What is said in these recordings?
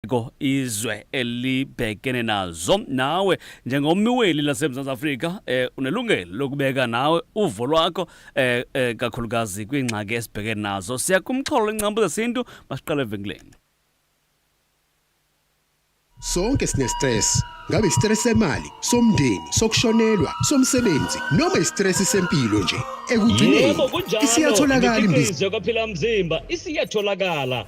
izigameko izwe elibhekene nazo nawe njengommiweli lasemzantsi afrika um eh, unelungelo lokubeka nawe uvo lwakho um um kakhulukazi kwiingxaki esibhekene nazo siya kumxholo lwencambu zesintu masiqale evenkileni sonke sinestress ngabe istress semali somndeni sokushonelwa somsebenzi noma istress sempilo nje ekugcineni isiyatholakala imbizo kwaphila mzimba isiyatholakala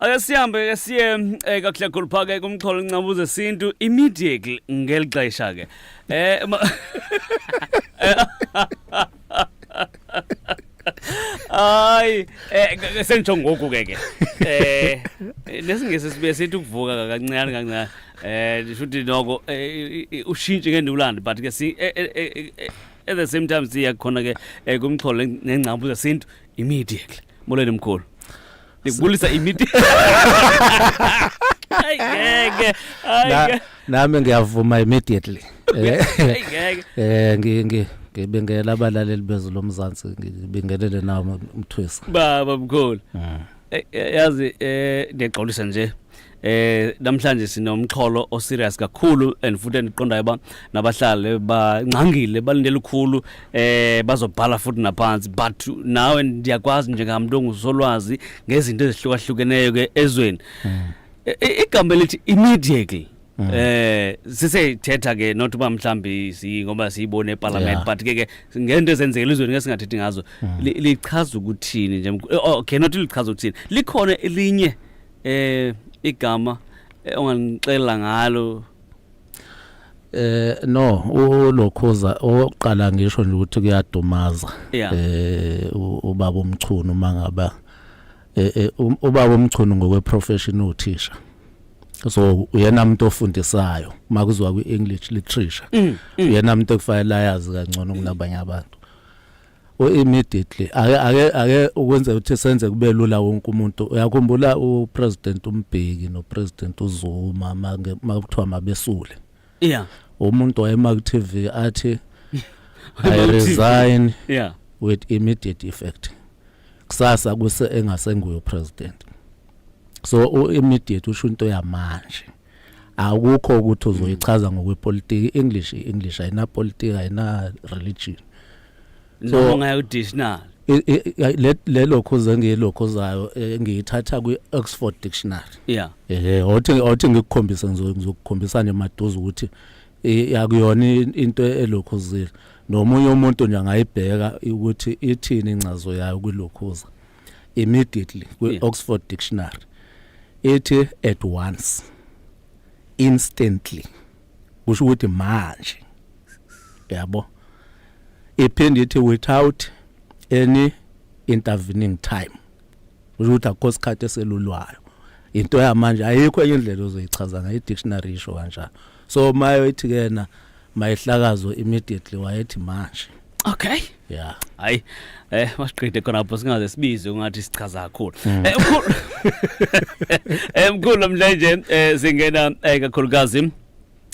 ake sihambe ke siye eh, kakhlekhulu phaa ke kumxholo ncabu zesintu immediately ngeli xesha ke eh ma- hayi eh, ke- ke sengitsho ngoku ke ke eh nesingesi sibe sithi ukuvuka ka- kancane kancane eh ndisho ukuthi noko eh, i- i- ushintshe ke ndiwulande but ke si eh, eh, eh, eh, at the same time siya khona ke eh, kumxholo nengcabu zesintu immediately Molweni mkhulu. Nikubulisa imiti. Ay ngeke. Ay. Nami ngiyavuma immediately. Eh, eh ngi ngi ngibingela abalaleli bezwe lomzansi ngibingelele nawo umthwisi baba mkhulu mm. eh, eh, yazi eh ngiyagxolisa nje eh namhlanje sinomxholo o serious kakhulu and futhi endiqondayo ba nabahlali bangcangile balindele ukukhulu eh bazobhala futhi naphansi but nawe ndiyakwazi njengamuntu ongusolwazi ngezinto ezihlukahlukeneyo ke ezweni hmm. e, e, igama elithi immediately hmm. eh siseyithetha ke not uba mhlambi si ngoba siyibone eparliament yeah. but ke ke ngento ezenzekile izweni ke singathethi ngazo hmm. lichaza ukuthini nje oh, okay not lichaza ukuthini likhona elinye eh igama eh, onganixela ngalo eh no ulokhoza oqala ngisho nje ukuthi kuyadumaza eh ubaba umchunu uma ngaba eh, eh um, ubaba umchunu ngokwe profession uthisha so uyena umuntu ofundisayo uma kuzwa kwi English literature mm, mm. uyena umuntu okufanele ayazi kangcono kunabanye abantu u immediately ake ake ake ukwenza ukuthi senze kube lula wonke umuntu uyakhumbula u president umbheki no president uzuma make makuthiwa mabesule yeah umuntu wayema ku TV athi i resign yeah with immediate effect kusasa kuse engasenguyo president so u immediate usho into yamanje akukho ukuthi uzoyichaza ngokwepolitiki English English ayina politics ayina religion so ngayo dictionary lelo khoze ngelokho zayo eh, ngiyithatha kwi Oxford dictionary yeah eh othi othi ngikukhombisa ngizokukhombisa nje maduze ukuthi yakuyona into elokhozile nomunye umuntu nje angayibheka ukuthi ithini incazo yayo kwilokhoza immediately kwi yeah. Oxford dictionary ethi at once instantly kusho ukuthi manje yabo iphinde ithi without any intervening time kusho ukuthi akho sikhathi eselulwayo into yamanje ayikho enye indlela ozoyichaza ngayo i-dictionary isho kanjalo so mayo ithi kena mayehlakazwe immediately wayethi manje okay yeah hayi eh masiqede khona lapho singaze sibize ungathi sichaza kakhulu hmm. eh mkhulu eh mkhulu namhlanje eh singena eh, kakhulukazi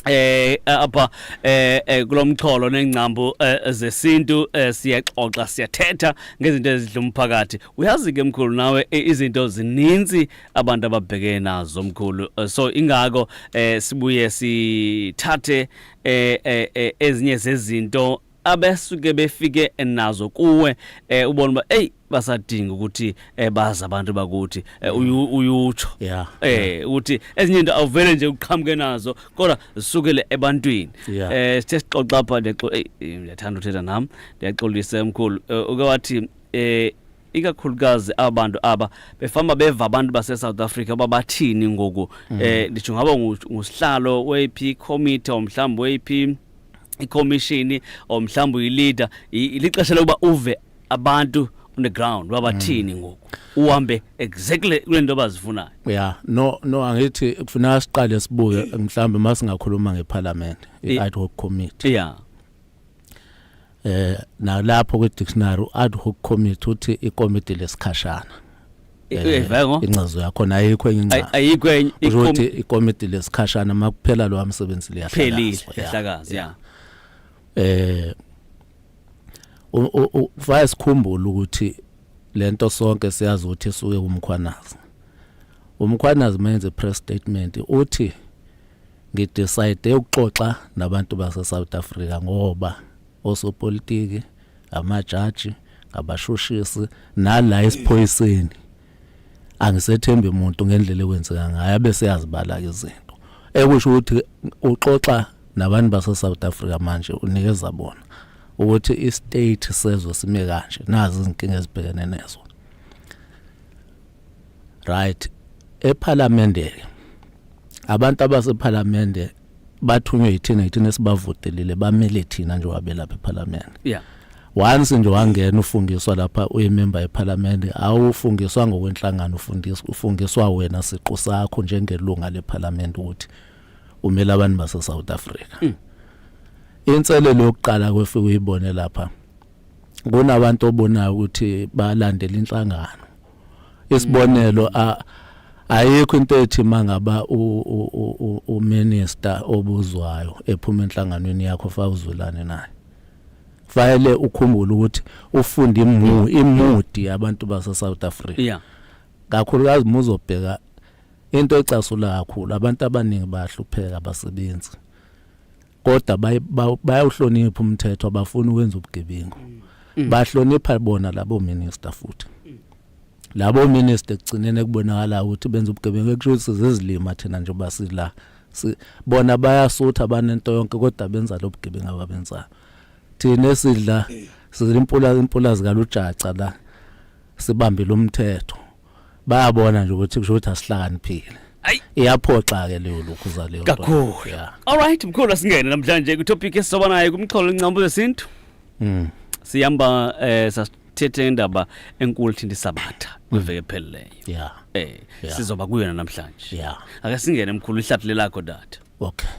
eh apha eh, eh kulomxholo nengcambu eh, zesintu eh, siyaxoxa siyathetha ngezinto ezidla umphakathi uyazi ke mkhulu nawe izinto zininzi abantu ababhekene nazo mkhulu eh, so ingako eh sibuye sithathe eh, eh, eh ezinye zezinto abesuke befike nazo kuwe eh ubona uba hey basadinga ukuthi eh bazi abantu bakuthi eh, mm. uyutsho yeah eh ukuthi ezinye into awuvele nje uqhamuke nazo kodwa zisukele ebantwini eh sithe sixoxa pha nexo eh ngiyathanda uthetha nami ndiyaxolisa emkhulu eh, uke wathi eh ikakhulukazi abantu aba befamba beva abantu base-south africa uba bathini ngoku mm. eh nditsho ngaba ngusihlalo weyp committee or mhlawumbi weyp ikhomishini or mhlawumbi uyileader lixesha lokuba uve abantu on the ground babathini mm. ngoku uhambe exactly kule nto bazifunayo ya no no angithi kufuneka siqale sibuke mhlawumbe uma singakhuluma ngeparliament i-ad hoc committee ya eh nalapho kwi dictionary u ad hoc committee uthi ikomiti lesikhashana Evengo eh, incazo yakho nayo ikho encinca ayikho enye ukuthi ikomiti lesikhashana makuphela lo msebenzi liyahlakaza ihlakaza yeah eh ufaya sikhumbula ukuthi lento sonke siyazi ukuthi suke umkhwanazi umkhwanazi menze press statement uthi ngidecide ukuxoxa nabantu base South Africa ngoba osopolitiki amajaji ngabashushisi nala esiphoyiseni angisethembi umuntu ngendlela ekwenzeka ngayo abese yazibala ke izinto ekusho ukuthi uxoxa nabantu base South Africa manje unikeza bona ukuthi i state sezwe sime kanje nazi izinkinga ezibhekene nezo right ephalamende abantu abasephalamende bathunywe yithina yithina esibavutelile bamele thina nje wabelapha ephalamende yeah once nje wangena ufungiswa lapha uyimember yephalamende awufungiswa ngokwenhlangano ufundiswa ufungiswa wena siqu sakho njengelunga lephalamende ukuthi umela abantu base South Africa mm. inselelo yokuqala kwefika uyibone lapha kunabantu obonayo ukuthi balandela inhlangano isibonelo a ayikho into ethi mangaba u minister obuzwayo ephuma enhlanganweni yakho fa uzulane naye fanele ukhumbule ukuthi ufunde imu imudi yabantu base South Africa yeah kakhulukazi muzobheka into ecasula kakhulu abantu abaningi bayahlupheka abasebenzi kodwa bayawuhlonipha umthetho abafuni ukwenza ubugebengu mm. Mm. bahlonipha bona labo minister futhi mm. labo minister kugcinene kubonakala ukuthi benza ubugebengu ekusho sizizilima thina nje basila bona bayasutha banento yonke kodwa benza lobugebengu ababenzayo thina esidla eh. sizimpula impula zikalujaca la sibambile umthetho bayabona nje ukuthi kusho ukuthi asihlakaniphile iyaphoxa ke leyo lokhu za leyo kakhulu all right mkhulu asingene namhlanje ku topic esizoba naye kumxholo incambu zesintu mm siyamba eh sasithethe indaba enkulu thinta isabatha kwiveke ephelileyo yeah eh sizoba kuyona namhlanje yeah ake singene mkhulu ihlathule lakho data okay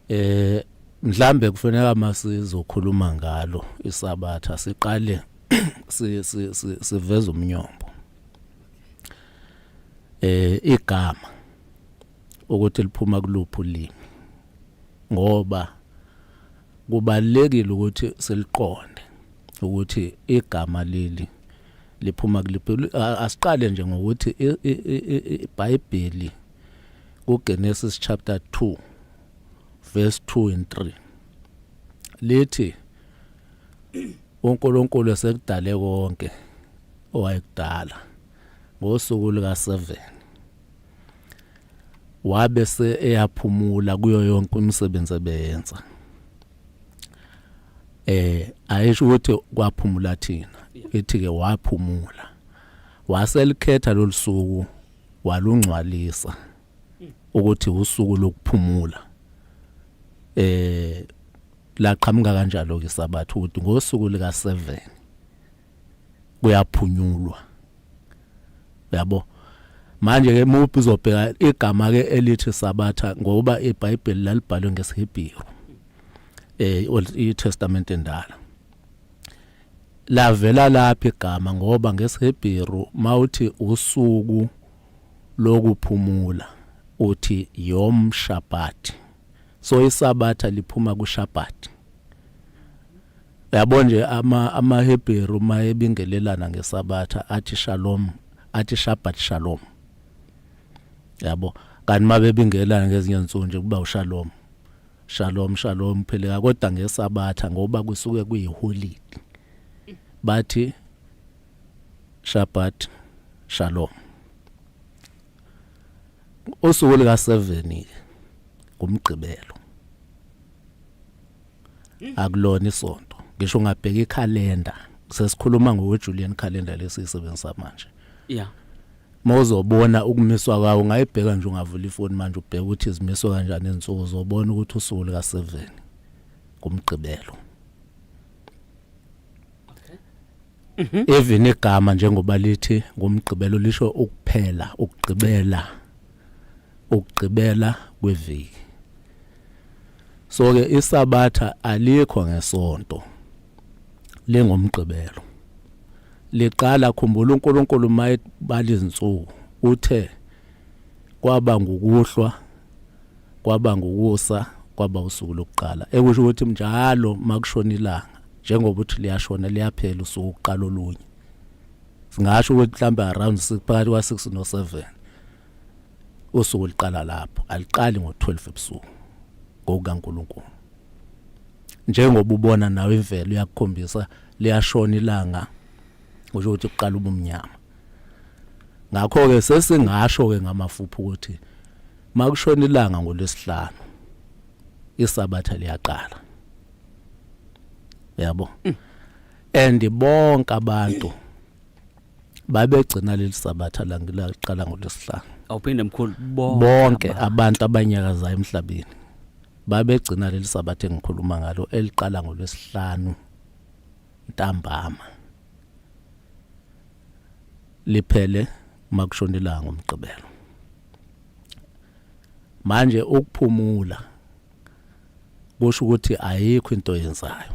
eh mhlambe kufanele masizokhuluma ngalo isabatha siqale siveza umnyombo eh igama ukuthi liphuma kuluphi ulimi ngoba kubalekile ukuthi siliqonde ukuthi igama leli liphuma kuliphi asiqale nje ngokuthi iBhayibheli kuGenesis chapter 2 verse 2 and 3 lithi uNkulunkulu esekudale konke owayekudala ngosuku luka 7 wabe se eyaphumula kuyo yonke umsebenzi ebeyenza eh ayisho ukuthi kwaphumula thina ithi ke waphumula waselikhetha lolusuku walungcwalisa ukuthi usuku lokuphumula eh laqhamuka kanjalo ke sabathu ukuthi ngosuku lika 7 kuyaphunyulwa yabo manje ke muphi uzobheka igama ke elithi sabatha ngoba iBhayibheli lalibhalwe ngesiHebheru eh old testament endala Lavela laphi igama ngoba ngesiHebheru mawuthi usuku lokuphumula uthi yom shabbat. So isabatha liphuma kushabbat. Yabo nje ama amaHebheru mayebingelelana ngesabatha athi shalom athi shabbat shalom. Yabo kanti mabebingelana ngezinye insuku nje kuba ushalom. Shalom shalom phileka kodwa ngesabatha ngoba kusuke kuyiholide. Bathi Shabbat shalom. Usuku lika 7 ngumgqibelo. Akulona isonto. Ngisho ungabheka ikhalenda. Sesikhuluma ngoJulian calendar lesisebenzisa manje. Yeah. mawuzobona ukumiswa kwawo ungayibheka nje ungavula ifoni manje ubheke ukuthi izimiswe kanjani izinsuku uzobona ukuthi usuku lika 7 kumgqibelo mhm. even igama njengoba lithi ngomgqibelo lisho ukuphela ukugqibela ukugqibela kweviki so ke isabatha alikho ngesonto lengomgqibelo liqala khumbula uNkulunkulu mayebala izinsuku uthe kwaba ngukuhlwa kwaba ngukusa kwaba usuku lokuqala ekusho ukuthi njalo makushona ilanga njengoba uthi liyashona liyaphela usuku uqala olunye singasho ukuthi mhlawumbe around phakathi kwa 6 no 7 usuku liqala lapho aliqali ngo 12 ebusuku ngokukaNkuluNkulu njengoba ubona nawe imvelo iyakukhombisa liyashona ilanga kusho ukuthi kuqala ubumnyama ngakho ke sesingasho ke ngamafuphi ukuthi makushona ilanga ngolwesihlanu isabatha liyaqala yabo and bonke abantu babegcina leli sabatha langilaqala ngolesihlanu awuphinde mkhulu bonke abantu abanyakazayo emhlabeni babegcina leli sabatha engikhuluma ngalo eliqala ngolwesihlanu ntambama liphele makushona ilanga ngomgqibelo manje ukuphumula kusho ukuthi ayikho into yenzayo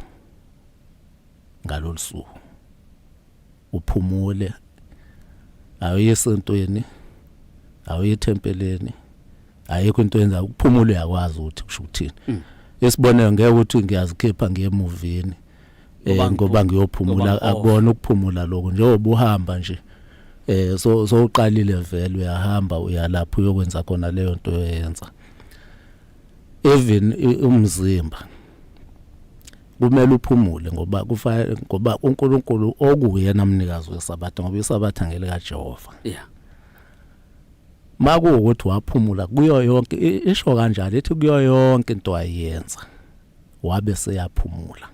ngalolu suku uphumule awuye esontweni awuye ethempeleni ayikho into yenza ukuphumula uyakwazi ukuthi kusho ukuthini mm. isibonelo ngeke ukuthi ngiyazikhipha ngiye emuvini eh, ngoba ngiyophumula akubona ukuphumula lokho njengoba uhamba nje eh so so uqalile vele uyahamba uyalapha uyokwenza khona leyo nto oyenza even umzimba kumele uphumule ngoba kufanele ngoba uNkulunkulu okuye namnikazi wesabatha ngoba isabatha ngele kaJehova yeah makuwukuthi waphumula kuyo yonke isho kanjalo ithi kuyo yonke into ayenza wabe seyaphumula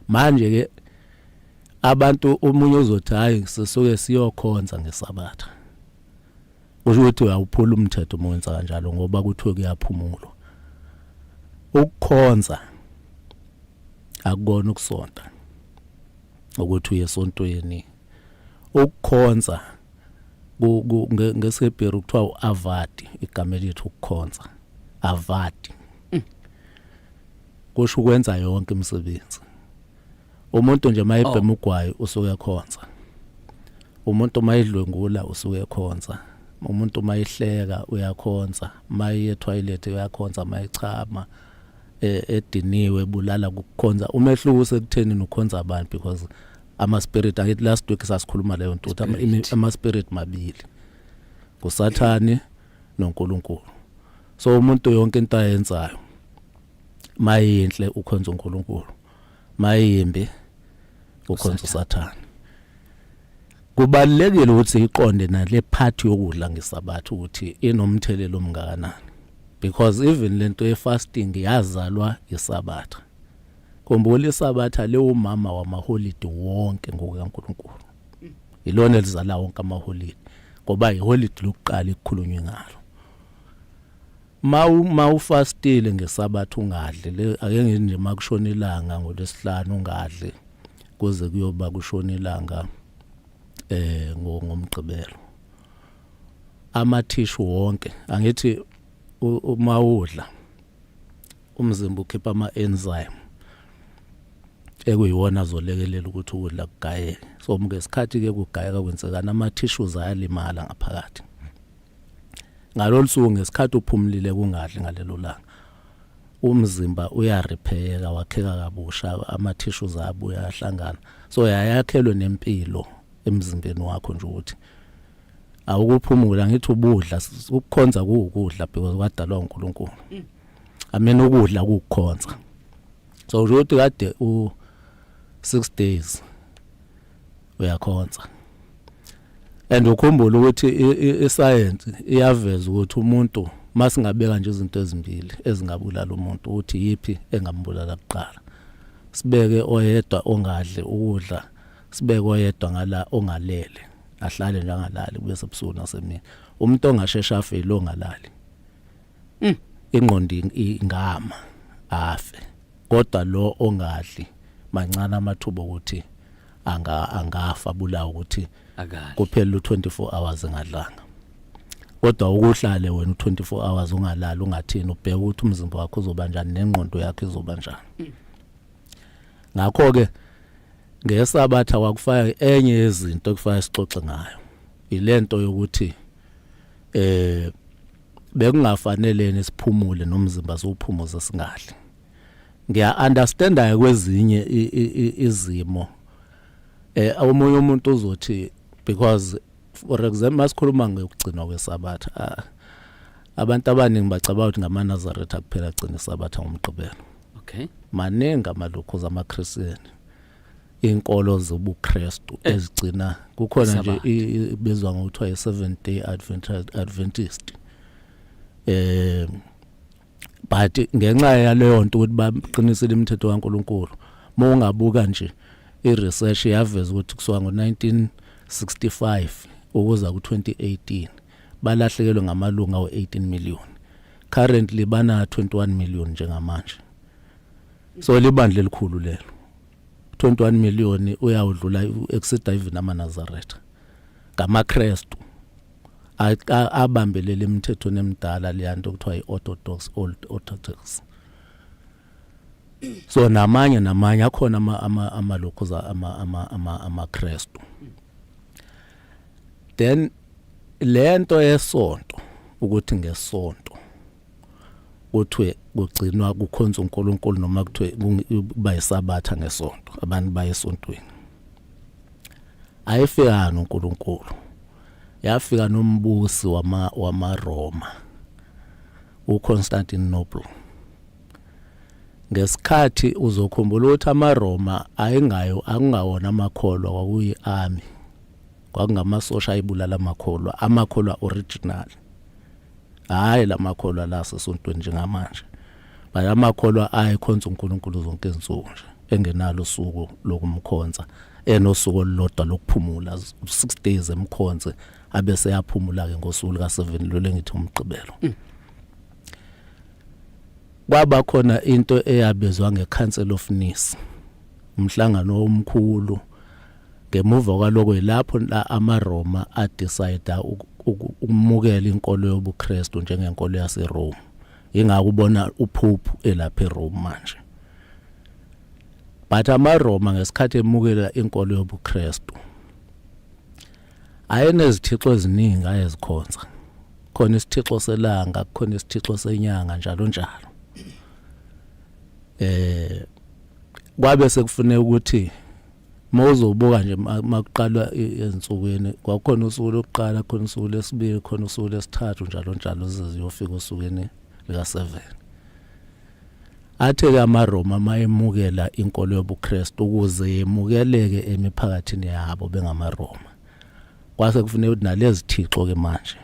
manje ke abantu umunye uzothi hayi sisuke siyokhonza ngesabatha kusho ukuthi awuphula umthetho uma wenza kanjalo ngoba kuthiwe kuyaphumulwa ukukhonza akukona ukusonta ukuthi uye esontweni ukukhonza ngesihebheru kuthiwa u-avadi igama elithi ukukhonza avadi mm. kusho ukwenza yonke imisebenzi umuntu nje mayebhema oh. ugwayi usuke ekhonza umuntu mayidlwengula usuke ekhonza umuntu mayihleka uyakhonza maye toilet uyakhonza mayichama e, ediniwe bulala kukhonza umehluko usekutheni nokhonza abantu because ama spirit angithi last week sasikhuluma leyo nto ama spirit mabili kusathane noNkulunkulu so umuntu yonke into ayenzayo mayinhle ukhonza uNkulunkulu mayimbi ukhonza usathane kubalekile ukuthi iqonde nale part yokudla ngesabatha ukuthi inomthelelo omngakanani because even lento ye fasting yazalwa isabatha khumbula isabatha lewumama wamaholide wonke ngokukaNkuluNkulu ilona elizala wonke amaholide ngoba iholide lokuqala ekukhulunywe ngalo Mawu mawufastile ngesabatha ungadli le ake ngithi nje makushona ilanga ngolesihlanu ungadli kuze kuyoba kushona ilanga eh ngomgqibelo amathishu wonke angithi uma udla umzimba ukhipha ama enzyme ekuyiwona azolekelela ukuthi ukudla kugayeke so ngesikhathi ke kugayeka kwenzekana ama tissues ayalimala ngaphakathi ngalolu suku ngesikhathi uphumulile kungadli ngalelo langa umzimba uyarepheyeka wakheka kabusha amathishu zabo uyahlangana so yayakhelwe nempilo emzimbeni wakho nje ukuthi awukuphumula ngithi ubudla ukukhonza kuwukudla because kwadalwa uNkulunkulu mm. amena ukudla kukukhonza so ukuthi kade u 6 days uyakhonza and ukhumbula ukuthi isayensi iyaveza ukuthi umuntu masingabeka nje izinto ezimbili ezingabulala umuntu ukuthi yipi engambulala kuqala sibeke oyedwa ongadli ukudla sibeke oyedwa ngala ongalele ahlale nje angalali kube sebusuku nasemini umuntu ongashesha afile ongalali mm. ingqondo ingama afe kodwa lo ongadli mancane amathuba okuthi anga angafa bulawa ukuthi kuphela u24 hours engadlanga kodwa ukuhlale wena u24 hours ungalali ungathini ubheka ukuthi umzimba wakho uzoba njani nengqondo yakho izoba njani mm. ngakho ke ngesabatha kwakufaya enye yezinto ekufaya sixoxe ngayo ilento yokuthi eh bekungafaneleni siphumule nomzimba siwuphumuze singadli ngiya understanda kwezinye izimo eh omunye umuntu uzothi because for example masikhuluma ngokugcinwa kwesabatha ah, abantu abaningi bacabanga ukuthi ngamanazaretha kuphela agcina isabatha ngomgqibelo okay maningi amalukhuza amaKristian inkolo zobuKristu eh. ezigcina kukhona nje ibizwa ngokuthiwa i seven day Adventist Adventist eh but ngenxa yaleyo nto ukuthi baqinisile imithetho kaNkuluNkulu uma ungabuka nje iresearch yaveza ukuthi kusuka ngo1965 ukuza ku2018 balahlekelwe ngamalunga o18 million currently bana 21 million njengamanje so libandla elikhulu lelo 21 million uyawudlula exceed even amanazaretha ngamakrestu abambelele emithethweni emidala leyanto kuthiwa i-orthodox old orthodox so namanye namanye akhona amalokhoza amakrestu then lento yesonto ukuthi ngesonto kuthiwe kugcinwa kukhonza uNkulunkulu noma kuthiwe kuba yisabatha ngesonto abantu baye esontweni ayifika noNkulunkulu yafika nombusi wama wamaRoma uConstantinople ngesikhathi uzokhumbula ukuthi amaRoma ayingayo akungawona amakholwa kwakuyi army kwakungamasosha ayibulala amakholwa amakholwa original hayi lamakholwa la sesontweni njengamanje baye amakholwa ayikhonza uNkulunkulu zonke izinsuku nje engenalo usuku lokumkhonza enosuku olulodwa lokuphumula 6 days emkhonze abese yaphumula ke ngosuku lika 7 lole ngithi umgqibelo mm. kwaba khona into eyabizwa ngeCouncil of Nice umhlangano omkhulu Ngemuva kwaloko yilapho la amaRoma adecida ukumukela inkolo yobuKristu njengenkolo yaseRome. Ingakho ubona uphuphu elapha eRome manje. But amaRoma ngesikhathi emukela inkolo yobuKristu ayenezithixo eziningi ayezikhonza. Khona isithixo selanga, khona isithixo senyanga njalo njalo. Eh kwabe sekufuneka ukuthi mawuzobuka nje makuqalwa ezinsukwini kwakhona usuku lokuqala khona usuku lesibili khona usuku lesithathu njalo njalo ziziyofika osukwini lika 7 athe ke amaRoma mayemukela inkolo yobuKristu ukuze yemukeleke emiphakathini yabo bengamaRoma kwase kufuneka ukuthi nalezi thixo ke manje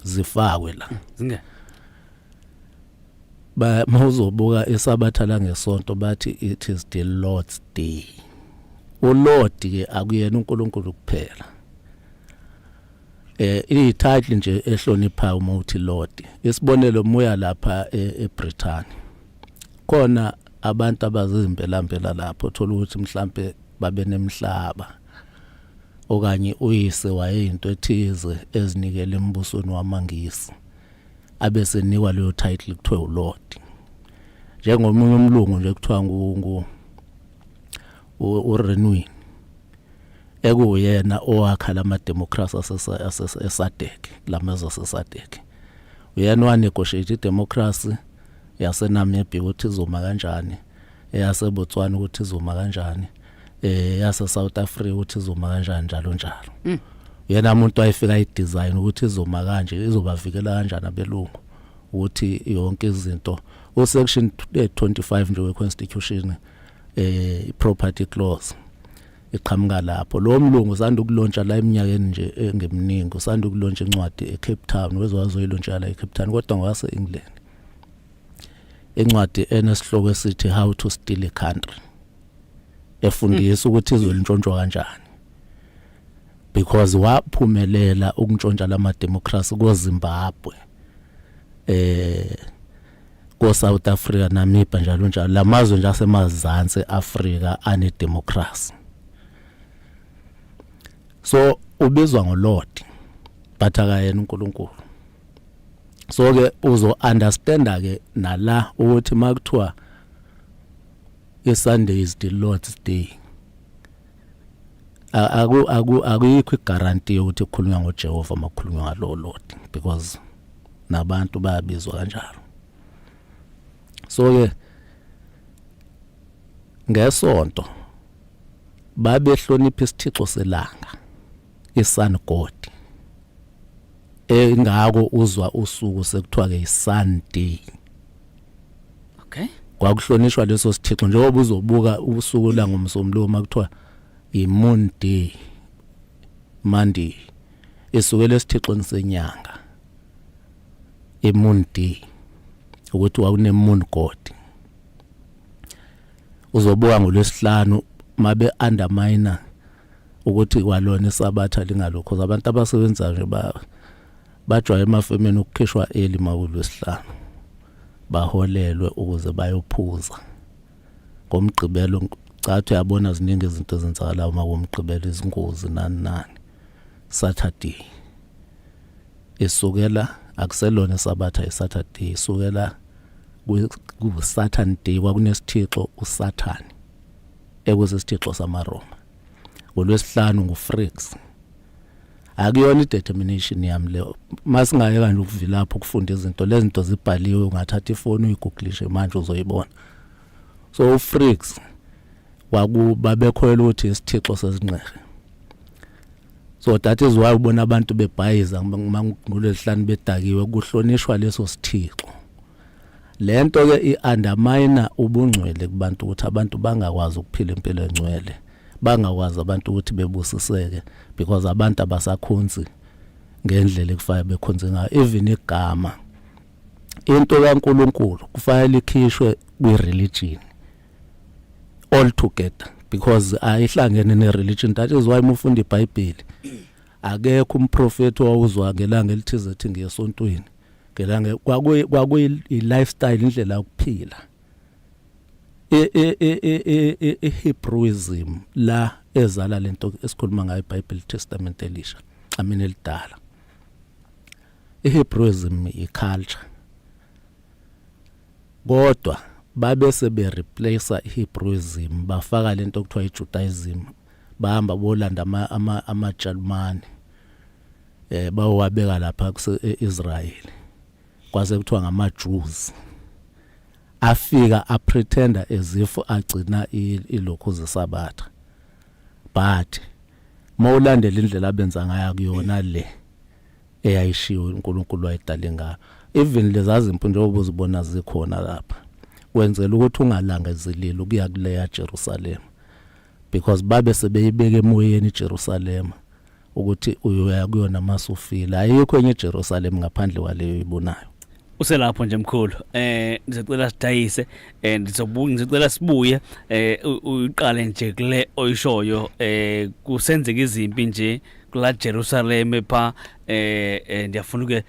zifakwe la ba mawuzobuka isabatha la ngesonto bathi it is the lord's day ulord ke akuyena uNkulunkulu kuphela eh ititle nje ehlonipha uma uthi lord isibonelo moya lapha e, eBritain khona abantu abazimbela mbela lapho thola ukuthi mhlambe babe nemhlaba okanye uyise wayeyinto ethize ezinikele embusweni wamangisi abesenikwa leyo title kuthiwa ulord njengomunye umlungu nje kuthiwa ngu urenwin ekuwuyena owakha lama democracy asesadec lamazwe asesadec uyena owanegotiate idemocracy yasenamibia ukuthi izoma kanjani eyasebotswana ukuthi izoma kanjani eh yase South Africa uthi izoma kanjani njalo njalo mm. yena umuntu wayefika i design ukuthi izoma kanje izobavikela kanjani abelungu ukuthi yonke izinto u section 25 eh, nje we constitution eh property clause iqhamuka lapho lo mlungu usanda ukulontsha la eminyakeni nje engeminingi usanda ukulontsha incwadi eCape Town wezowazoyilontsha la eCape Town kodwa ngwase England incwadi enesihloko esithi how to steal a country efundisa ukuthi izwe lintshontshwa kanjani because waphumelela ukuntshontsha lama democracy ko Zimbabwe eh ko South Africa Namibia njalo njalo lamazwe nje asemazantsi Africa ane democracy so ubizwa ngolord but akayena uNkulunkulu so ke uzo understanda ke nala ukuthi makuthiwa iSunday is the Lord's day aku aku akuyikho igaranti yokuthi ukhulunywa ngoJehova makukhulunywa ngalo Lord because nabantu bayabizwa kanjalo so ke ngesonto babehlonipha isithixo selanga isun god engako uzwa usuku sekuthiwa ke isun day okay kwakuhlonishwa leso sithixo njengoba uzobuka usuku la ngomsombuluko uma kuthiwa imun day monday esukela esithixweni senyanga imun day ukuthi wakune moon god uzobuka ngolwesihlanu mabe underminer ukuthi kwalona isabatha lingalokho abantu abasebenza nje ba bajwaye emafemeni ukukhishwa eli makulwesihlanu baholelwe ukuze bayophuza ngomgqibelo cathi uyabona ziningi izinto ezenzakalayo uma komgqibelo izingozi nani nani saturday isukela akuselona isabatha isaturday isukela kusaturday kwakunesithixo usathane ekusisithixo samaRoma ngolwesihlanu nguFrix akuyona i-determination yami leyo masingaye kanje ukuvilapha ukufunda izinto lezi zinto zibhaliwe ungathatha ifoni uyigugulishe manje uzoyibona so uFrix wakuba bekhoyela ukuthi isithixo sezingqere so that is why ubona abantu bebhayiza ngolwesihlanu bedakiwe kuhlonishwa leso sithixo Le nto ke i-undermine ubungcwele kubantu ukuthi abantu bangakwazi ukuphila impilo engcwele bangakwazi abantu ukuthi bebusiseke because abantu abasakhonzi ngendlela ekufanele bekhonze ngayo even igama into kaNkuluNkulu kufanele ikhishwe kwi-religion all together because ayihlangene ne-religion that is why mufunda ibhayibheli akekho umprofethi owawuzwa ngelanga elithize ethi ngiyesontweni ngelange kwakuyi kwakuyi lifestyle indlela yokuphila e, e, e, ehebrewism la ezala lento esikhuluma ngayo iBible Testament elisha amina elidala ehebrewism iculture kodwa babese be replace ihebrewism bafaka lento okuthiwa ijudaism bahamba bolanda ama ama amajalumane eh bawabeka lapha kuseIsrael kwase kuthiwa ngama Jews afika a pretender as if agcina ilokhu zesabatha but mawulandela indlela abenza ngayo kuyona le eyayishiwo uNkulunkulu wayidale ngayo even lezazimpu njengoba uzibona zikhona lapha wenzela ukuthi ungalangezeleli ukuya kuleya Jerusalem because babe sebeyibeka emoyeni iJerusalema ukuthi uyoya kuyona masufile ayikho enye iJerusalema ngaphandle kwaleyo ibonayo uselapho nje mkhulu eh ngizocela sidayise eh ndizobuya ngizocela sibuye eh uyiqale nje kule oyishoyo eh kusenzeka izimpi nje kula Jerusalem pha eh, eh ndiyafuna ke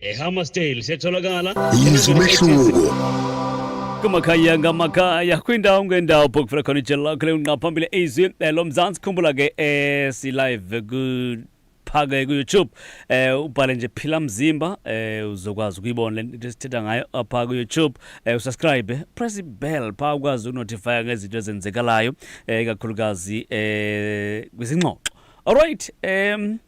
ehammersdale setholakala yizwa umehluko kumakhaya ngamakhaya kwindawo ngendawo phokufela khona ijelo lakho leunqa phambili izwi eh, lomzantsi khumbula ke eh, silive phake ku-youtube eh ubhale nje phila mzimba eh uzokwazi ukuyibona le nto esithetha ngayo apha ku-youtube eh usubscribe press ibell phaa ukwazi ukunotifya ngezinto ezenzekalayo eh kakhulukazi eh kwizingxoxo all right um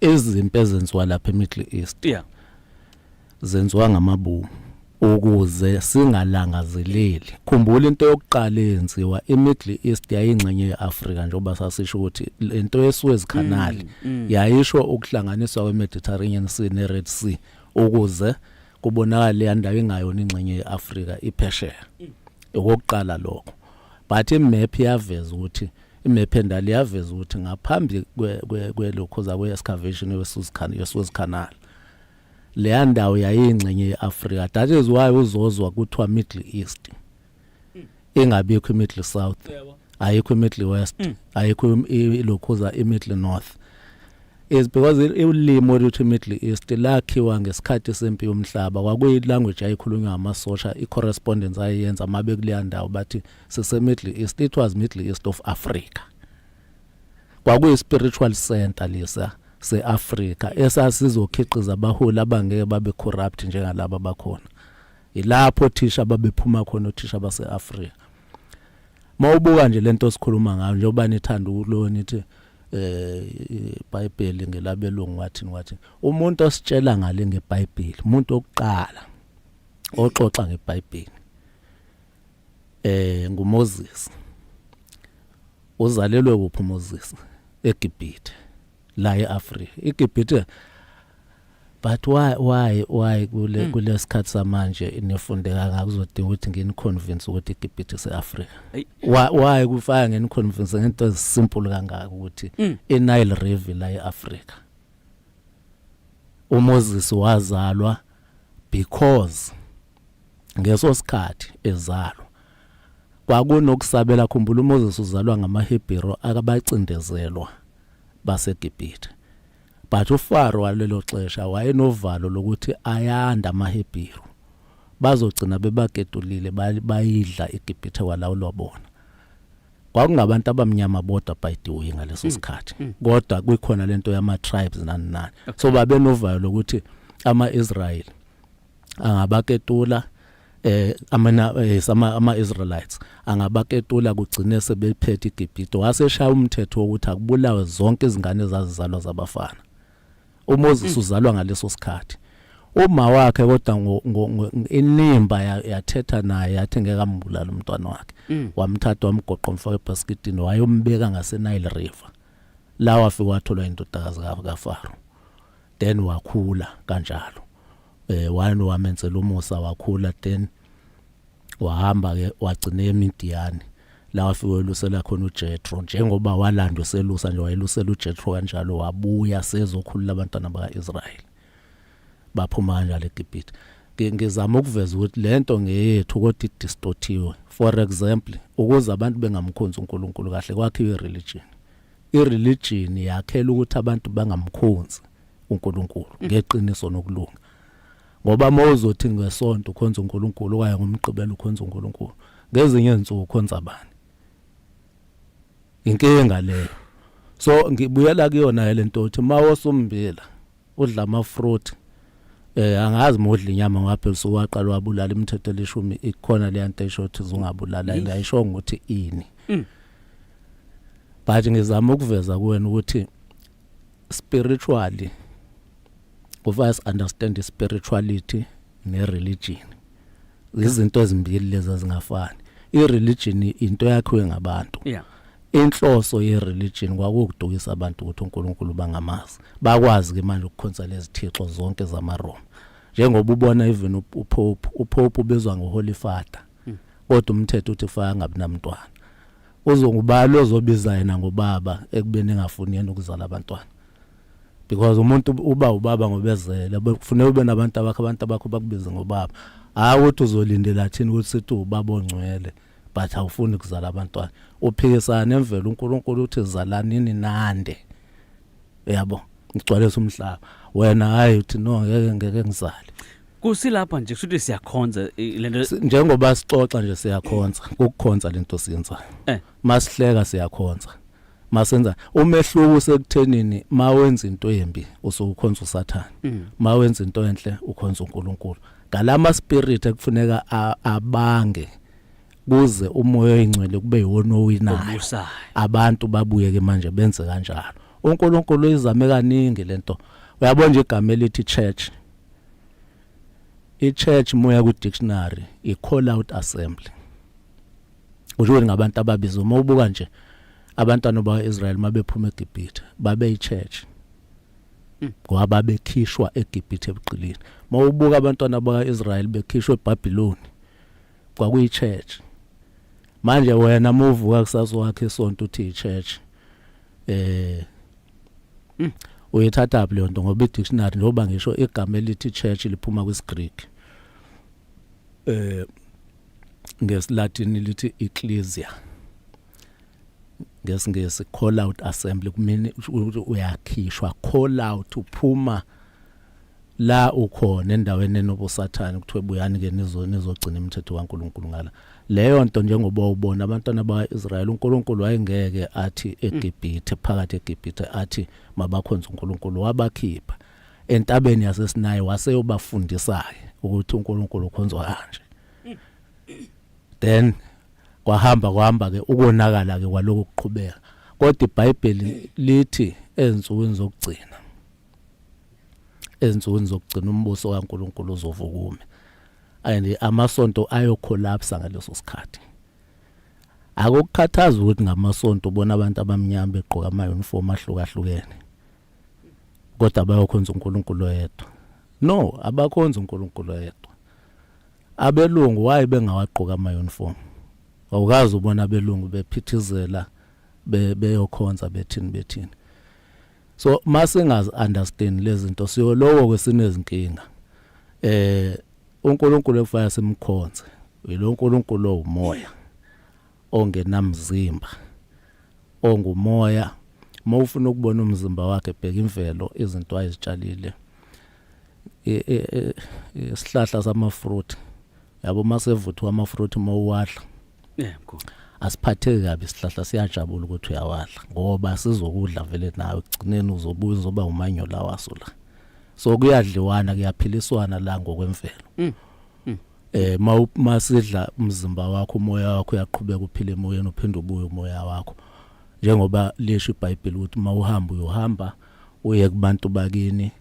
izimpi ezenziwa lapha eMiddle East yeah zenziwa ngamabomu ukuze singalangazeleli khumbula into yokuqala eyenziwa iMiddle East yayingxenye yeAfrika njengoba sasisho ukuthi lento yeSuez Canal mm, mm. yayisho ukuhlanganiswa kweMediterranean Sea neRed Sea ukuze kubonakala le ndawo ingayona ingxenye yeAfrika iphesheya mm. okokuqala lokho but imap yaveza ukuthi Imephendali yaveza ukuthi ngaphambi kwelokhoza kwe-excavation ye-Suez Canal leya ndawo yayingxenye ye-Afrika that is why uzozwa kuthiwa Middle East ingabikho i-Middle South ayikho i-Middle West mm. ayikho ilokhoza i-Middle North is because ulimi oluthi Middle East lakhiwa ngesikhathi sempi yomhlaba kwakuyi language ayikhulunywa amasosha i correspondence ayenza mabe kuleya ndawo bathi sise Middle East it was Middle East of Africa kwakuyi spiritual center lesa seAfrika esasizokhiqiza abaholi abangeke babe corrupt njengalabo abakhona ilapho thisha babephuma khona othisha baseAfrika mawubuka nje lento osikhuluma ngayo njengoba nithanda ukulona ithi eh iBhayibheli ngelabelungu wathi wathi umuntu ositshela ngale ngeBhayibheli umuntu okuqala oxoxa ngeBhayibheli eh nguMoses uzalelwe kuphi uMoses eGibhithe la eAfrika iGibhithe but why why why kule hmm. kulesikhathi samanje nifunde kangaka uzodinga ukuthi ngini convince ukuthi iGibhithe seAfrika why why kufaya ngini convince ngento ezisimple kangaka ukuthi hmm. iNile River la eAfrika uMoses wazalwa because ngeso sikhathi ezalwa kwakunokusabela khumbula uMoses uzalwa ngamaHebheru akabacindezelwa baseGibhithe but uFaro walelo xesha wayenovalo lokuthi ayanda amaHebheru bazogcina bebaketulile bayidla iGibhithe walawulwa bona kwakungabantu abamnyama bodwa by the way ngaleso mm. sikhathi mm. kodwa kuyikhona lento yama tribes nani nani so babenovalo lokuthi ama Israel angabaketula eh amana eh, sama ama Israelites angabaketula kugcine sebephethe iGibhithe waseshaya umthetho wokuthi akubulawe zonke izingane ezazizalwa zabafana uMoses mm. uzalwa ngaleso sikhathi uma wakhe kodwa inimba yathetha naye yathi ngeke ambulala umntwana wakhe mm. wamthatha wamgoqa umfaka ebasketini wayombeka ngaseNile River la wafika watholwa indodakazi kaFaro then wakhula kanjalo eh wayena wamenzela umusa wakhula then wahamba ke wagcina eMidiyani la wafike elusela khona uJethro njengoba walandwa selusa nje wayelusela uJethro kanjalo wabuya sezokhulula abantwana bakaIsrayeli baphuma kanjalo eGibhithe ngizama ukuveza ukuthi lento ngeyethu kodwa idistortiwe for example ukuze abantu bengamkhonzi uNkulunkulu kahle kwakhiwe religion I religion yakhela ukuthi abantu bangamkhonzi uNkulunkulu mm. ngeqiniso nokulunga. Ngoba mawuzothi ngesonto ukhonza uNkulunkulu kwaye ngomgqibelo ukhonza uNkulunkulu. Ngezinye izinsuku ukhonza bani? Inkinga leyo. So ngibuyela kuyona lento othi mawosumbila udla ama fruit eh angazi modla inyama ngapha ebusuku waqala wabulala imithetho elishumi ikhona le nto esho ukuthi uzungabulala and ayisho ukuthi ini mm. but ngizama ukuveza kuwena ukuthi spiritually kufanele understand spirituality ne religion izinto ezimbili lezi ezingafani ireligion into yakhiwe ngabantu yeah inhloso yereligion kwakuwukudukisa abantu ukuthi uNkulunkulu bangamazi bakwazi ke manje ukukhonsa lezithixo zonke zamaRoma njengoba ubona even uPope uPope ubizwa ngoHoly Father hmm. kodwa umthetho uthi kufanele angabi namntwana uzongubali ozobiza yena ngobaba ekubeni engafuni yena ukuzala abantwana because umuntu uba ubaba ngobezele kufuneka ube nabantu abakho abantu abakho bakubize ngobaba hayi ukuthi uzolindela thini ukuthi sithi ubaba ongcwele but awufuni kuzala abantwana uphikisana nemvelo uNkulunkulu uthi zalanini nande yabo ngigcwalisa umhlaba wena hayi uthi no ngeke ngeke ngizale kusilapha nje kushuthi siyakhonza lento njengoba sixoxa nje siyakhonza ukukhonza lento siyenzayo eh. masihleka siyakhonza masenza umehluko usekuthenini mawenza into embi usukhonza usathane mm. mawenza into enhle ukhonza uNkulunkulu ngalama spirit ekufuneka abange kuze umoya oyingcwele kube yiwona owinayo abantu babuyeke manje benze kanjalo uNkulunkulu izame kaningi lento uyabona nje igama elithi church i church moya ku dictionary i call out assembly kusho ukuthi ngabantu ababizwe uma ubuka nje abantwana bakwa-israyeli uma bephuma egibhithe babeyi-church hmm. ngoba babekhishwa egibhithe ebuqilini uma ubuka abantwana bakwa-israyeli bekhishwa ebhabhiloni kwakuyi-church manje wena uma uvuka kusasa wakhe isonto uthi yi-church eh hmm. uyithatha phi leyo nto ngoba i-dictionary njengoba ngisho igama elithi church liphuma kwisiGreek eh ngesilatin lithi ecclesia ngesingesi call out assembly kumini uyakhishwa call out uphuma la ukhona endaweni enobusathane kuthiwe buyani ke nizoni izogcina imithetho kaNkuluNkulu ngala leyo nto njengoba ubona abantwana bakaIsrayeli uNkulunkulu wayengeke athi eGibhithe phakathi eGibhithe athi mabakhonze uNkulunkulu wabakhipha entabeni yaseSinayi waseyobafundisa-ke ukuthi uNkulunkulu ukhonzwa kanje then kwahamba kwahamba ke ukonakala ke kwaloko kuqhubeka kodwa iBhayibheli lithi ezinsukwini zokugcina ezinsukwini zokugcina umbuso kaNkuluNkulu uzovukume and amasonto ayocollapse ngaleso sikhathi akukhathazi ukuthi ngamasonto ubona abantu abamnyama begqoka ama uniform ahlukahlukene kodwa bayokhonza uNkulunkulu oyedwa no abakhonza uNkulunkulu oyedwa abelungu waye bengawagqoka ama uniform awukazi ubona abelungu bephithizela beyokhonza bethini bethini so masingazi understand lezinto siyolowo kwesinezinkinga eh uNkulunkulu efaya simkhonze yilo uNkulunkulu owumoya ongenamzimba ongumoya uma ufuna ukubona umzimba wakhe bheka imvelo izinto ayizitshalile e, e, e, isihlahla samafruit yabo uma sevuthwa amafruit uma uwadla yebo asiphatheki kabi isihlahla siyajabula ukuthi uyawadla ngoba sizokudla vele nawe kugcineni uzobuya uzoba umanyola waso la so kuyadliwana kuyaphiliswana la ngokwemvelo mm. eh masidla umzimba wakho umoya wakho uyaqhubeka uphile emoyeni uphinde ubuye umoya wakho njengoba lisho iBhayibheli ukuthi mawuhamba uyohamba uye kubantu bakini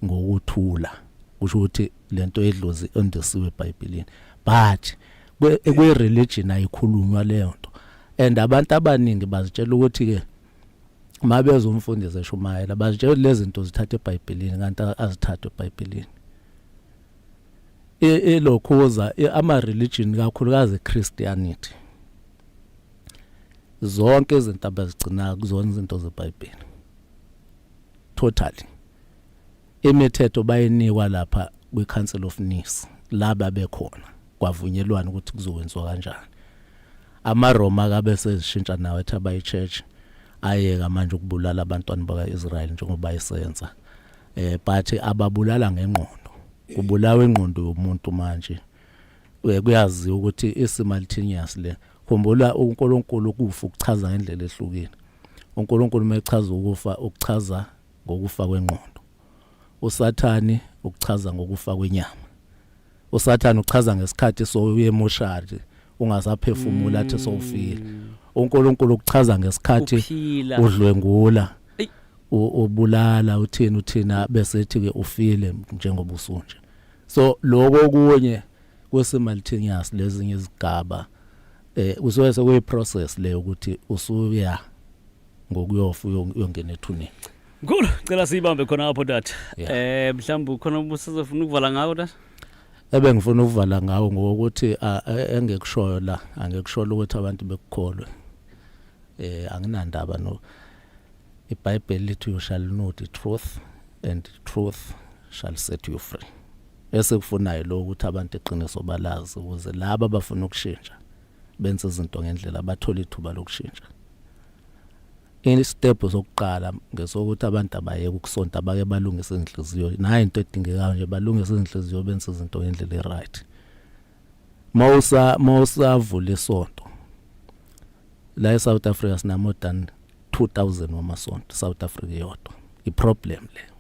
ngokuthula kusho ukuthi lento edlozi ondisiwe eBhayibhelini but kwe religion ayikhulunywa leyo nto and abantu abaningi bazitshela ukuthi ke mabezomfundisi eshumayela bazitshela lezi zinto zithatha eBhayibhelini kanti azithathwe eBhayibhelini e, elokhuza e, ama religion kakhulukazi Christianity zonke izinto abazigcina kuzona izinto zeBhayibheli totally imithetho bayinikwa lapha kwi Council of Nice laba bekhona kwavunyelwana ukuthi kuzokwenziwa kanjani amaRoma kabe sezishintsha nawo ethi abayichurch ayeka manje ukubulala abantwana bakaIsrael njengoba isenza eh but ababulala ngengqondo kubulawa ingqondo yomuntu manje eh, kuyaziwa ukuthi isimultaneous le khumbula uNkulunkulu ukufa ukuchaza ngendlela ehlukile uNkulunkulu mechaza ukufa ukuchaza ngokufa kwengqondo usathani ukuchaza ngokufa kwenyama usathane uchaza ngesikhathi sowuye emoshari ungasaphefumula athi sowufile mm. uNkulunkulu ukuchaza ngesikhathi udlwengula ubulala uthini uthina bese ethi ke ufile njengoba usunje so lokho kunye kwesimultaneous lezinye izigaba eh kusuke sekuyi process le ukuthi usuya ngokuyofa uyongena ethuneni Mkhulu, cela siyibambe khona apho tata. Yeah. Eh mhlawumbe ukhona ubusizofuna ukuvala ngako tata? Ebengifuna ukuvala ngawo ngokuthi a- e- engikushoyo la, angikushola ukuthi abantu bekukholwe. Eh anginandaba no iBhayibheli lithi you shall know the truth and the truth shall set you free. Esikufunayo lo ukuthi abantu iqiniso balazi ukuze laba abafuna ukushintsha benze izinto ngendlela bathola ithuba lokushintsha. Isitebhu sokuqala ngesokuthi abantu abayeke ukusonta bake balungise izinhliziyo. Nayo into edingekayo nje balungise izinhliziyo benze izinto ngendlela e-right. Mawusa mawusavula isonto. La eSouth Africa sina more than 2000 wamasonto South Africa yodwa. I-problem le.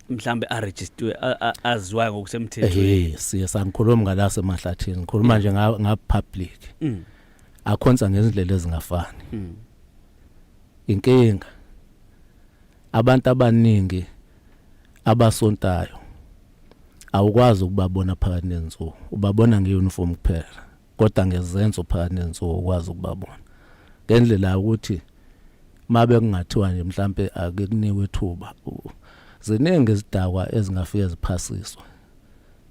mhlambe a register aziwayo ngokusemthethweni. Eh siye sangikhuluma ngalase mahlathini. Ngikhuluma nje nga public. Mm. akhonsa ngezindlela ezingafani hmm. inkinga abantu abaningi abasontayo awukwazi ukubabona phakathi nensuku ubabona ngeuniform kuphela kodwa ngezenzo phakathi nensuku ukwazi ukubabona ngendlela ukuthi mabe kungathiwa nje mhlambe ake kunikwe ithuba ziningi izidakwa ezingafike ziphasiswe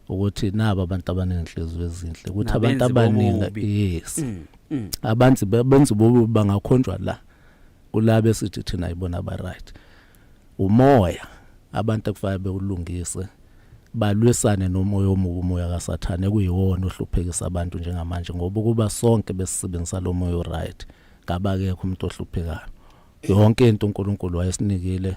ukuthi nabo abantu abanenhliziyo ezinhle ukuthi abantu abaningi yes mm, mm. abantu benza bobu bangakhonjwa la kulabo esithi thina ayibona aba right umoya abantu ekufanele bewulungise balwisane nomoya omubi umoya kaSathane kuyiwona ohluphekisa abantu njengamanje ngoba kuba sonke besisebenzisa lo moya oright kabakekho umuntu ohluphekayo yonke into uNkulunkulu wayesinikile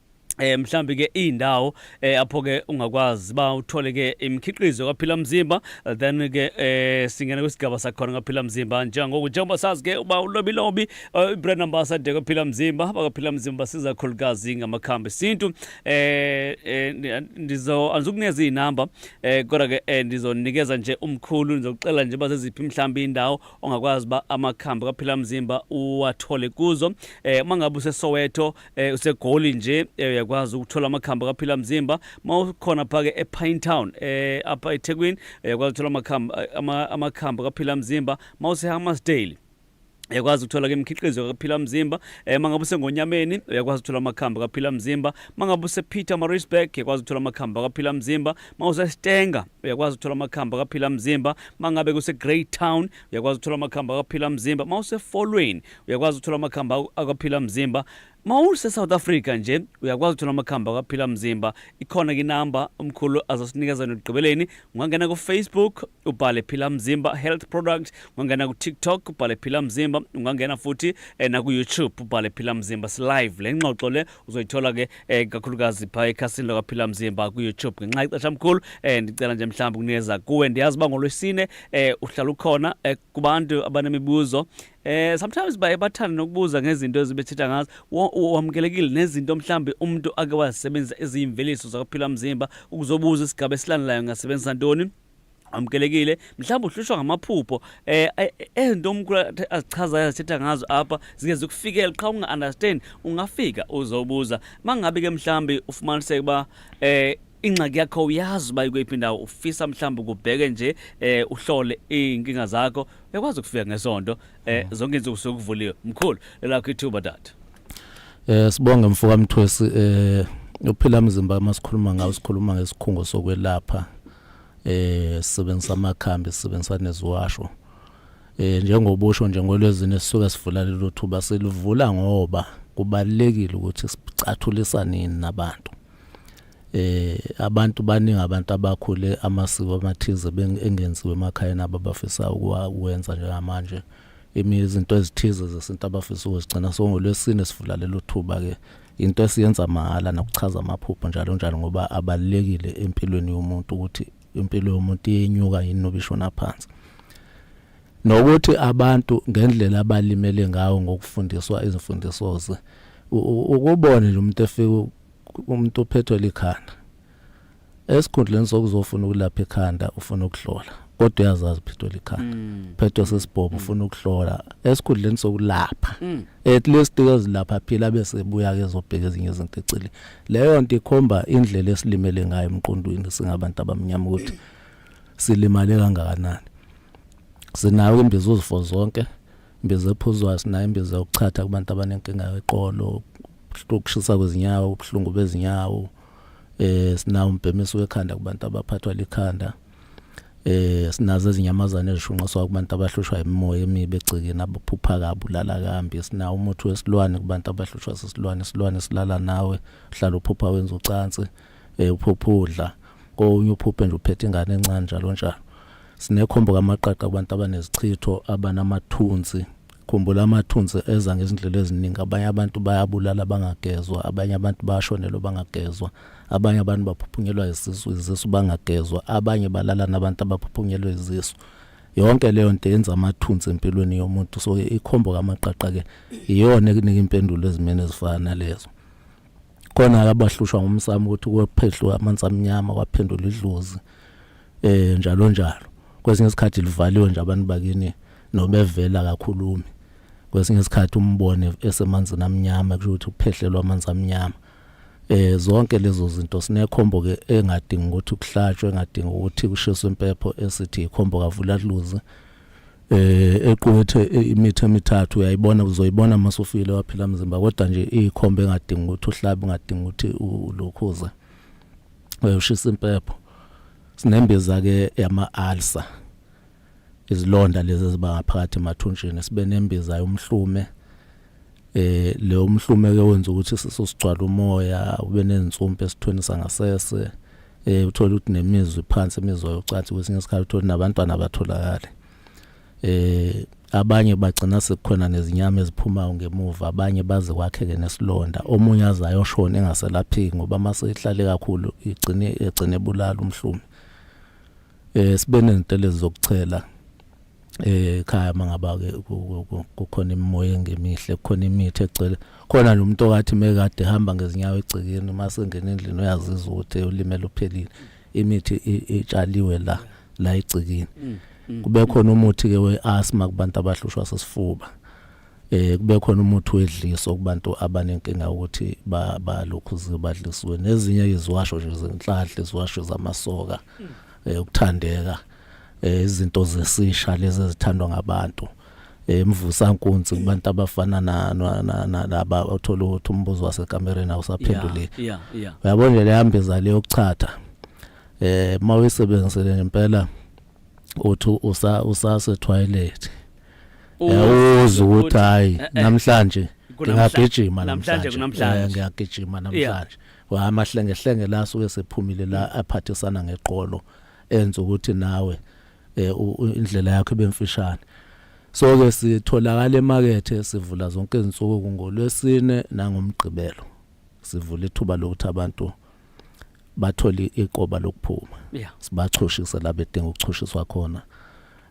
eh mhlambi ke indawo eh apho ke ungakwazi ba uthole ke imikhiqizo kaphila mzimba eh, then ke eh singena kwisigaba sakhona kaphila mzimba njengoku njengoba sazi ke uba ulobi lobi eh, ibrand ambassador kaphila mzimba bakaphila mzimba siza khulukazi ngamakhambi sintu eh, eh ndizo andizukuneza izinamba eh kodwa ke eh, ndizonikeza nje umkhulu ndizokucela nje bazeziphi mhlambi indawo ongakwazi ba amakhambi kaphila mzimba uwathole kuzo eh mangabe useSoweto eh usegoli nje eh, uyakwazi ukuthola amakhamba kaphila mzimba mawukhona phake ePine Town eh apha eThekwini uyakwazi ukuthola amakhamba eh, amakhamba kaphila mzimba mawuseHammarsdale uyakwazi ukuthola ke imikhiqizo kaphila mzimba eh mangabe usengonyameni uyakwazi ukuthola amakhamba kaphila mzimba mangabe usePeter Maritzburg uyakwazi ukuthola amakhamba kaphila mzimba mawuseStenga uyakwazi ukuthola amakhamba kaphila mzimba mangabe kuse Greytown uyakwazi ukuthola amakhamba kaphila mzimba mawuseFolweni uyakwazi ukuthola amakhambi akwaphila mzimba mawusesouth africa nje uyakwazi ukuthola amakhambi akwaphila mzimba ikhona ke inamba umkhulu azosinikeza yona ekugqibeleni ungangena kufacebook ubhale phila mzimba health product ungangena kutiktok ubhale phila mzimba ungangena futhi eh, nakuyoutube ubhale phila mzimba silive le ngxoxo le uzoyithola ke eh, kakhulukazi phaa ekhasini lakaphila mzimba kuyoutube ngenxa ixesha mkhulu eh, ndicela nje mhlawumbi kunikeza kuwe ndiyazi uba ngolwesine eh, uhlala ukhona eh, kubantu abanemibuzo Eh sometimes baye bathanda nokubuza ngezinto ezibethetha ngazo wamukelekile nezinto mhlambe umuntu ake wazisebenzisa eziyimveliso zakuphila umzimba ukuzobuza isigaba esilandelayo ngasebenzisa ntoni amukelekile mhlawumbe uhlushwa ngamaphupho eh ezinto umkhulu azichazayo azithetha ngazo apha zike zikufikele qha unga-understand ungafika uzobuza mangabe ke mhlawumbe ufumaniseke uba eh ingxaki yakho uyazi uba ikweyiphi indawo ufisa mhlawumbi ukubheke nje eh uhlole iy'nkinga zakho uyakwazi ukufika ngesonto eh mm. zonke insuku suke kuvuliwe mkhulu lelakho ithuba data eh sibonge mfo kamthwesi eh uphila mzimba masikhuluma ngawo sikhuluma ngesikhungo sokwelapha eh sisebenzisa amakhambi sisebenzisa neziwasho eh njengobusho nje ngolwezini sisuke sivula lelo thuba silivula ngoba kubalekile ukuthi sicathulisanini nabantu eh abantu baningi abantu abakhule amasiko amathize engenziwe emakhaya nabo abafisa ukuwenza njengamanje imi izinto ezithize zesintu abafisa ukuzigcina so ngolwesine sivula lelo thuba ke into esiyenza mahala nokuchaza amaphupho njalo njalo ngoba abalekile empilweni yomuntu ukuthi impilo yomuntu iyenyuka yini nobishona phansi nokuthi abantu ngendlela abalimele ngawo ngokufundiswa izimfundiso ze ukubone nje umuntu efika umuntu uphethwe likhanda esikhundleni sokuzofuna ukulapha ikhanda ufuna ukuhlola kodwa uyazazi uphethwe likhanda mm. phethwe sesibhobo mm. ufuna ukuhlola esikhundleni sokulapha mm. at least kezilapha phila bese buya ke zobheka ezinye izinto ecile leyo nto ikhomba indlela esilimele ngayo emqondweni singabantu abamnyama ukuthi silimale kangakanani sinayo imbizo zifo zonke imbiza ephuzwayo sinayo imbiza yokuchatha kubantu abanenkinga yeqolo ukushisa kwezinyawo ubuhlungu bezinyawo eh sinawo umbhemiso wekhanda kubantu abaphathwa likhanda eh sinazo izinyamazane ezishunqiswa kubantu abahlushwa imimoya emibi egcikeni abaphupha kabulala kambi sinawo umuthi wesilwane kubantu abahlushwa sisilwane isilwane silala nawe uhlala uphupha wenza ucansi eh uphupha udla konye uphuphe nje uphethe ingane encane njalo njalo sinekhombo kamaqaqa kubantu abanezichitho abanamathunzi khumbula amathunzi eza ngezindlela eziningi abanye abantu bayabulala bangagezwa abanye abantu bashonelwa bangagezwa abanye abantu baphuphunyelwa izisu izisu bangagezwa abanye balala nabantu abaphuphunyelwa izisu yonke leyo nto yenza amathunzi empilweni yomuntu so ikhombo kamaqaqa ke iyona ekunika impendulo ezimene ezifana lezo khona-ke abahlushwa ngumsamo ukuthi kwephehlwe amanzi amnyama kwaphendula idlozi um njalo njalo kwesinye isikhathi livaliwe nje abantu bakini nobevela akakhulumi kwesinye isikhathi umbone esemanzini amnyama kusho ukuthi uphehlelwa amanzi amnyama eh zonke lezo zinto sinekhombo ke engadingi ukuthi kuhlatshwe engadingi ukuthi kushiswe impepho esithi ikhombo kavula luze eh equkethe imithe emithathu uyayibona uzoyibona masufile waphila mzimba kodwa nje ikhombe engadingi ukuthi uhlabe engadingi ukuthi ulokhuza uyoshisa impepho sinembeza ke yama ulcer izilonda lezi eziba ngaphakathi emathunjini sibe nembiza yomhlume eh leyo mhlumeke wenza ukuthi siso sigcwala umoya ube nezinsumpe esithweni sangasese eh uthola ukuthi nemizwe phansi imizwa yocansi kwesinye isikhathi uthola nabantwana abatholakala eh abanye bagcina sekukhona nezinyama eziphumayo ngemuva abanye baze kwakheke nesilonda omunye azayo shona engaselaphiki ngoba mase ihlale kakhulu igcine egcine bulala umhlumi eh sibe nezintelezi zokuchela eh khaya mangaba ke kukhona imimoya engemihle kukhona imithi egcwele khona lo muntu okathi mekade ehamba ngezinyawo egcekeni uma sengena endlini uyazizwa ukuthi ulimele uphelile imithi itshaliwe la la egcekeni mm, mm, kube khona umuthi ke weasthma kubantu abahlushwa sesifuba eh kube khona umuthi wedliso kubantu abanenkinga ukuthi ba balokhu zibadliswe nezinye iziwasho nje zenhlanhla iziwasho zamasoka hmm. eh ukuthandeka eh, izinto zesisha lezi ezithandwa ngabantu emvusa nkunzi kubantu abafana na naba othola ukuthi umbuzo wasekamereni awusaphenduleki uyabona nje lehambe zale yokuchatha eh mawuyisebenzisele ngempela uthi usa usase toilet uzi ukuthi hayi eh, eh. namhlanje ngiyagijima namhlanje kunamhlanje eh, ngiyagijima namhlanje wa amahlenge hlenge la suke sephumile la mm. aphathisana ngeqolo enza ukuthi nawe indlela yakho ibemfishane so ke sitholakala emakethe sivula zonke izinsuku ngolwesine nangomgqibelo sivula ithuba lokuthi abantu bathole iqoba lokuphuma yeah. sibachushise la bedinga ukuchushiswa khona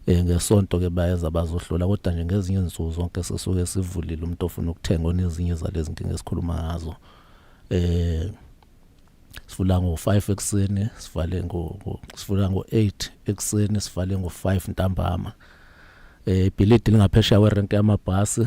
eh ngesonto ke bayeza bazohlola kodwa nje ngezinye izinsuku zonke sisuke sivulile umuntu ofuna ukuthenga onezinye zalezi nkinga esikhuluma ngazo eh sivula ngo5 ekseni sivale ngo sivula ngo8 ekseni sivale ngo5 ntambama eh ibhilidi lingaphesheya werenke yamabhasi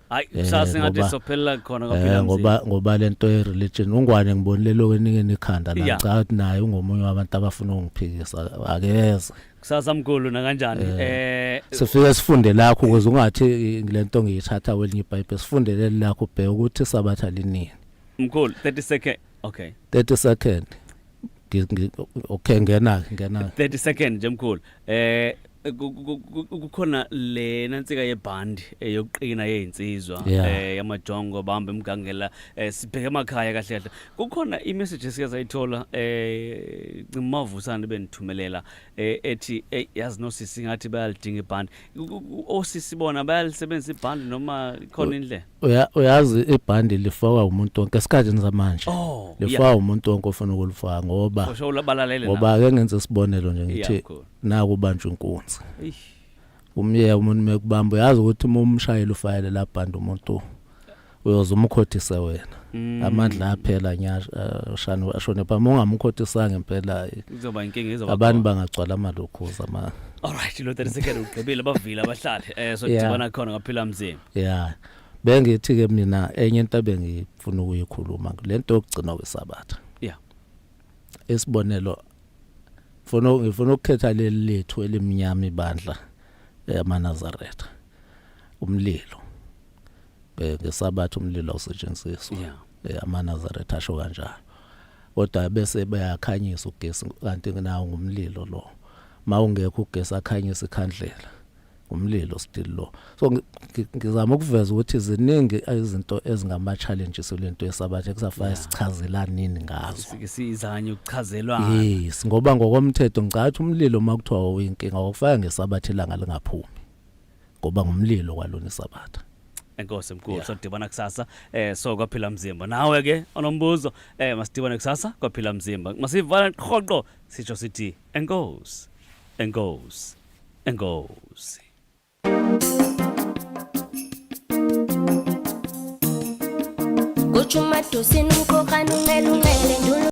hayi Eh, kusasa ngathi ngoba- sophelela khona Eh, kwaphila ngoba mzini ngoba lento ye religion ungwane ngibonile lo wenikeni ikhanda la Yeah. ngicabanga ukuthi naye ungomunye wabantu abafuna ukungiphikisa akeze kusasa mkhulu nakanjani eh sifike sifunde lakho ukuze ungathi eh, lento ngiyithatha kwelinye ibhayibheli sifundeleli lakho ubheke ukuthi isabatha linini mkhulu 30 second okay 30 second okay ngena ngena 30 second nje mkhulu eh kukhona le nansika yebhandi eh, yokuqina yezinsizwa eh yamajongo bamba emgangela eh, sibheke emakhaya kahle kahle kukhona imessage esike sayithola eh ngimavusana benithumelela eh, ethi yazi nosisi ngathi bayalidinga ibhandi osisi bona bayalisebenzisa ibhandi noma khona indlela Uya- uyazi ibhandi lifakwa umuntu wonke esikhathini samanje Oh, lifakwa umuntu wonke ofuna ukulifaka ngoba osho labalalele ngoba ake ngenze isibonelo nje ngithi Yeah, cool. naku ubanjwa inkunzi umyeya umuntu mekubamba uyazi ukuthi uma umshayeli ufayele la bhandi umuntu uyoze umkhothise wena Mm. amandla aphela nya uh, shani ashone pha ungamukhotisanga impela eh, kuzoba inkinga izoba abantu bangagcwala amalokhoza ma all right lo 30 second ugqibile bavile abahlali eh so Yeah. dibana khona ngaphila mzini yeah bengithi ke mina enye into abengifuna ukuyikhuluma lento yokugcina kwesabatha Yeah. isibonelo mfuna ngifuna ukukhetha leli lethu elimnyama ibandla yamaNazaretha umlilo eh, ngesabatha umlilo awusetshenziswa yeah. Eh, amanazaretha asho kanjalo kodwa bese bayakhanyisa ugesi kanti nawo ngumlilo lo mawungekho ugesi akhanyisa ikhandlela umlilo still lo so ngizama ukuveza ukuthi ziningi izinto ezingama challenges lento yesabatha kusafaya sichazela nini ngazo sizanye ukuchazelwa yes ngoba ngokomthetho ngicathi umlilo makuthiwa uyinkinga okufaya ngesabatha ilanga lingaphumi ngoba ngumlilo kwalona isabatha enkosi mkhulu yeah. sodibana kusasa eh so kwaphila mzimba nawe ke onombuzo eh masidibane kusasa kwaphila mzimba masivala qoqo sisho sithi enkosi enkosi enkosi Kuchuma tusinu kokanu melungele ndulu